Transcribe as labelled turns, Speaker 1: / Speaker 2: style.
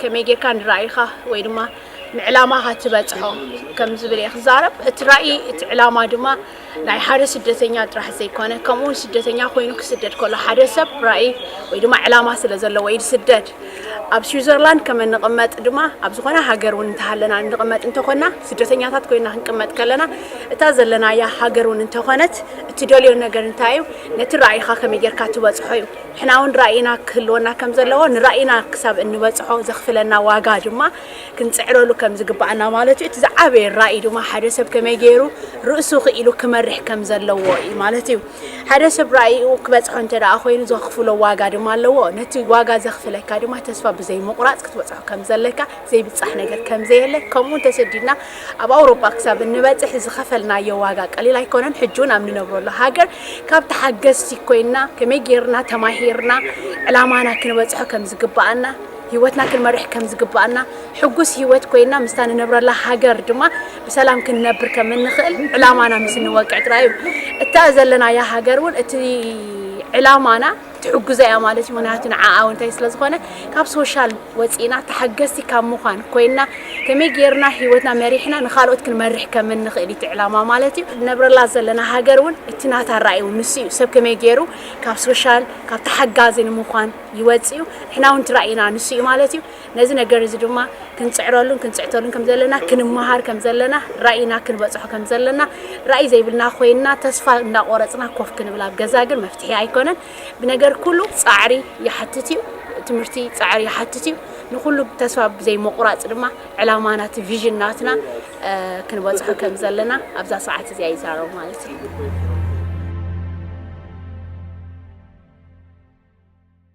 Speaker 1: ከመይ ጌርካ ንራኢኻ ወይ ድማ ንዕላማኻ ትበጽሖ ከም ዝብል እየ ክዛረብ። እቲ ራኢ እቲ ዕላማ ድማ ናይ ሓደ ስደተኛ ጥራሕ ዘይኮነ ከምኡውን ስደተኛ ኮይኑ ክስደድ ከሎ ሓደ ሰብ ራኢ ወይ ድማ ዕላማ ስለ ዘለዎ እዩ ዝስደድ። ኣብ ስዊዘርላንድ ከም እንቕመጥ ድማ ኣብ ዝኾነ ሃገር እውን እንተሃለና እንቕመጥ እንተኾና ስደተኛታት ኮይና ክንቅመጥ ከለና እታ ዘለናያ ሃገር እውን እንተኾነት እትደልዮ ነገር እንታይ እዩ ነቲ ራኢኻ ከመይ ጌርካ ትበጽሖ እዩ። ንሕና'ውን ራኢና ክህልወና ከም ዘለዎ፣ ንራኢና ክሳብ እንበጽሖ ዘኽፍለና ዋጋ ድማ ክንጽዕረሉ ከም ዝግባኣና ማለት እዩ። እቲ ዝዓበየ ራኢ ድማ ሓደ ሰብ ከመይ ገይሩ ርእሱ ክኢሉ ክመርሕ ከም ዘለዎ እዩ ማለት እዩ። ሓደ ሰብ ራኢኡ ክበጽሖ እንተ ደኣ ኮይኑ ዘኽፍሎ ዋጋ ድማ ኣለዎ። ነቲ ዋጋ ዘኽፍለካ ድማ ተስፋ ብዘይምቑራጽ ክትበጽሖ ከም ዘለካ ዘይብጻሕ ነገር ከም ዘየለ ከምኡውን ተሰዲድና ኣብ ኣውሮጳ ክሳብ እንበጽሕ ዝኸፈልናዮ ዋጋ ቀሊል ኣይኮነን። ሕጂ እውን ኣብ ንነብረሉ ሃገር ካብ ተሓገዝቲ ኮይና ከመይ ጌርና ተማሂርና ዕላማና ክንበጽሖ ከም ዝግብኣና ህይወትና ክንመርሕ ከም ዝግብኣና ሕጉስ ህይወት ኮይና ምስታ ንነብረላ ሃገር ድማ ብሰላም ክንነብር ከም እንኽእል ዕላማና ምስ እንወቅዕ ጥራይ እዩ። እታ ዘለናያ ሃገር እውን እቲ ዕላማና ትሕግዞ እያ ማለት እዩ ምክንያቱ ንዓኣ እውን እንታይ ስለ ዝኾነ ካብ ሶሻል ወፂእና ተሓገዝቲ ካብ ምዃን ኮይና ከመይ ጌርና ሂወትና መሪሕና ንካልኦት ክንመርሕ ከም እንኽእል እዩ እቲ ዕላማ ማለት እዩ ነብረላ ዘለና ሃገር እውን እቲ ናታ ራእይ እውን ንሱ እዩ ሰብ ከመይ ጌሩ ካብ ሶሻል ካብ ተሓጋዚ ንምዃን ይወፅ እዩ ንሕና እውን እቲ ራእይና ንሱ እዩ ማለት እዩ ነዚ ነገር እዚ ድማ ክንጽዕረሉን ክንጽሕተሉን ከም ዘለና ክንመሃር ከም ዘለና ራኢና ክንበጽሖ ከም ዘለና ራኢ ዘይብልና ኮይንና ተስፋ እንዳቆረጽና ኮፍ ክንብል ኣብ ገዛ ግን መፍትሒ ኣይኮነን ብነገር ኩሉ ጻዕሪ ይሓትት እዩ ትምህርቲ ጻዕሪ ይሓትት እዩ ንኩሉ ተስፋ ብዘይ ምቁራጽ ድማ ዕላማና እቲ ቪዥን ናትና ክንበጽሖ ከም ዘለና ኣብዛ ሰዓት እዚኣ ይዛረቡ ማለት እዩ